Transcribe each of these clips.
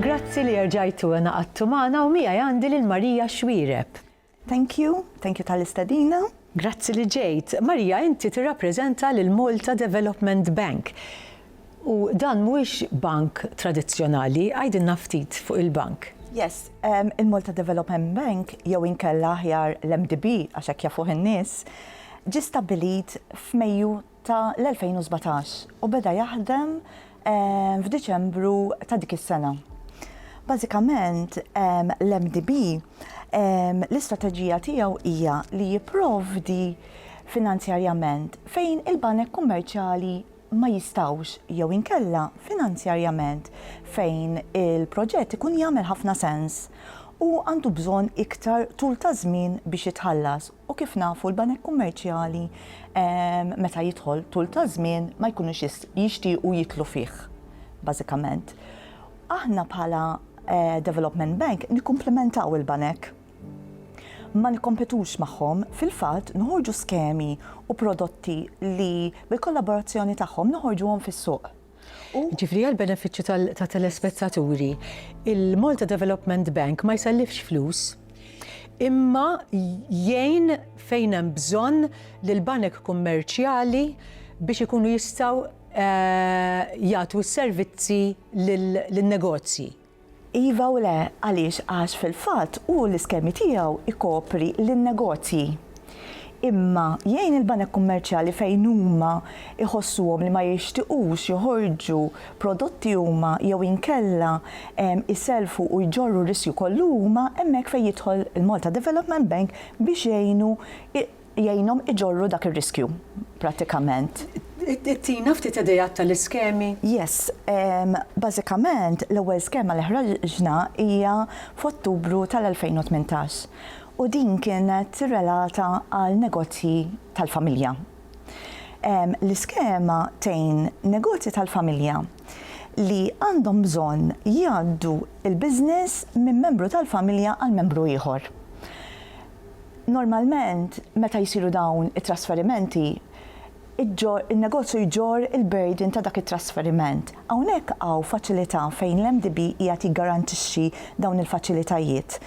Grazzi li erġajtu ngħaqadtu magħna u miegħi għandi lil Maria Xuereb. Thank you, thank you tal-istedina. Grazzi li ġejt. Maria inti tirrappreżenta lil Malta Development Bank u dan mhuwiex bank tradizzjonali, għidilna ftit fuq il-bank. Yes, il-Malta Development Bank jew inkella aħjar l-MDB għax hekk jafuh in-nies, ġie stabbilit f'Mejju ta' l-2017 u beda jaħdem f'Diċembru ta' dik is-sena. Bażikament, l-MDB, l-istrateġija tiegħu hija li jipprovdi finanzjarjament fejn il-banek kummerċjali ma jistgħux jew inkella finanzjarjament fejn il-proġett ikun jagħmel ħafna sens u għandu bżonn iktar tul ta' żmien biex jitħallas. U kif nafu l-banek kummerċjali meta jidħol tul ta' żmien ma jkunux jixtiequ jidħlu fih bażikament. Aħna bħala development bank nikkumplimentaw il-banek. Ma nikkompetux magħhom, fil-fatt noħorġu skemi u prodotti li bil-kollaborazzjoni tagħhom noħorġuhom fis-suq. Jiġifieri għall-benefiċċju tat-telespettaturi, il-Malta Development Bank ma jsellifx flus, imma jgħin fejn hemm bżonn lill-banek kummerċjali biex ikunu jistgħu jagħtu s-servizzi lin-negozji. Iva u le, għaliex għax fil-fatt hu l-iskemi tiegħu jkopri lin-negozji. Imma jgħin il-banek kummerċjali fejn huma jħossuhom li ma jixtiqux joħorġu prodotti huma jew inkella jsellfu u jġorru r-riskju kollu huma, hemmhekk fejn jidħol il-Malta Development Bank biex jgħinu jgħinhom iġorru dak ir-riskju prattikament. Tina ftit ideat tal-iskemi? Yes. Bażikament, l-ewwel skema li ħraġna hija f'Ottubru tal-2018 u din kienet relata għal negozji tal-familja. L-iskema tgħin negozji tal-familja li għandhom bżonn jgħaddu l-business minn membru tal-familja għal membru ieħor. Normalment meta jsiru dawn it-trasferimenti, in-negozju jġorr il-burden ta' dak it-trasferiment. Hawnhekk hawn faċilità fejn l-MDB qiegħed jiggarantixxi dawn il-faċilitajiet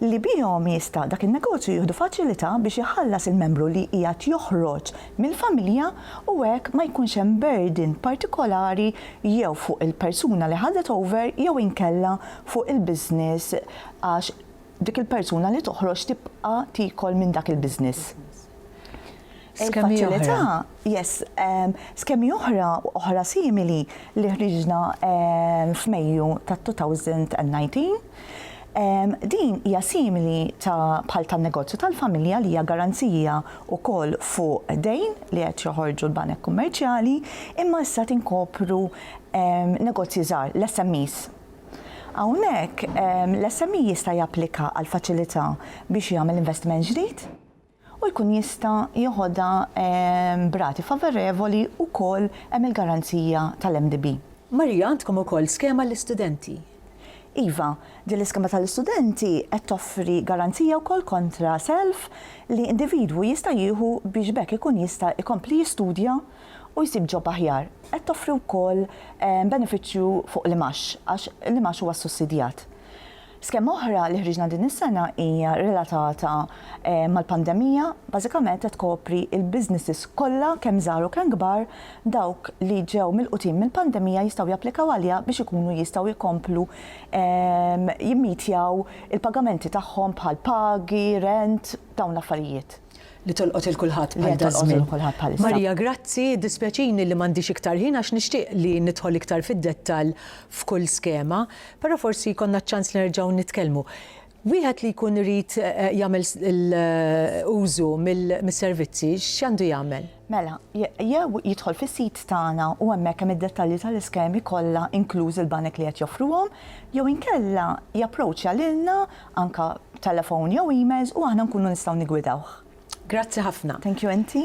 li bihom jista' dak in-negozju jieħdu faċilità biex iħallas il-membru li qiegħed joħroġ mill-familja u hekk ma jkunx hemm burden partikolari jew fuq il-persuna li ħadet over jew inkella fuq il-business għax Dik il-persuna li toħroġ tibqa' tiekol minn dak il-business. Skemi oħra. Yes, skemi oħra, oħra simili li ħriġna f'Mejju tat-2019. Din hija simili ta' bħal tan-negozju tal-familja li hija garanzija wkoll fuq dejn li qed joħorġu l-banek kummerċjali, imma issa tinkopru negozji żgħar, l-SMEs. Hawnhekk, l-SME jista' japplika għal faċilità biex jagħmel investiment ġdid u jkun jista' jeħodha b'rati favorevoli wkoll hemm il-garanzija tal-MDB. Maria, għandkom ukoll skema għall-istudenti? Iva, din l-iskema tal-istudenti qed toffri garanzija wkoll kontra self li individwu jista' jieħu biex b'hekk ikun jista' jkompli jistudja u jsib job aħjar. Qed toffri wkoll benefiċċju fuq l-imgħax għax l-imgħax huwa ssussidjat. Skema oħra li ħriġna din is-sena hija relatata mal-pandemija, bażikament qed tkopri l-businesses kollha kemm żgħar u kemm kbar, dawk li ġew milqutin mill-pandemija jistgħu japplikaw għaliha biex ikunu jistgħu jkomplu jimmitjaw il-pagamenti tagħhom bħall-pagi, rent, dawn l-affarijiet. li tolqot il kulħadd bħal dażmin. Marija grazzi, dispjaċini li m'għandix iktar ħin għax nixtieq li nidħol iktar fid-dettall f'kull skema, però forsi jkollna ċ-ċans li nerġgħu nitkellmu. Wieħed li jkun irid eh, jagħmel użu mis-servizzi x'għandu jagħmel? Mela, jew jidħol fis-sit tagħna u hemmhekk hemm id-dettalji tal-iskemi kollha inkluż il-banek li qed joffruhom, jew inkella japproċċja lilna anka b'telefon jew emails u aħna nkunu nistgħu niggwidawh. Grazzi ħafna. Thank you inti.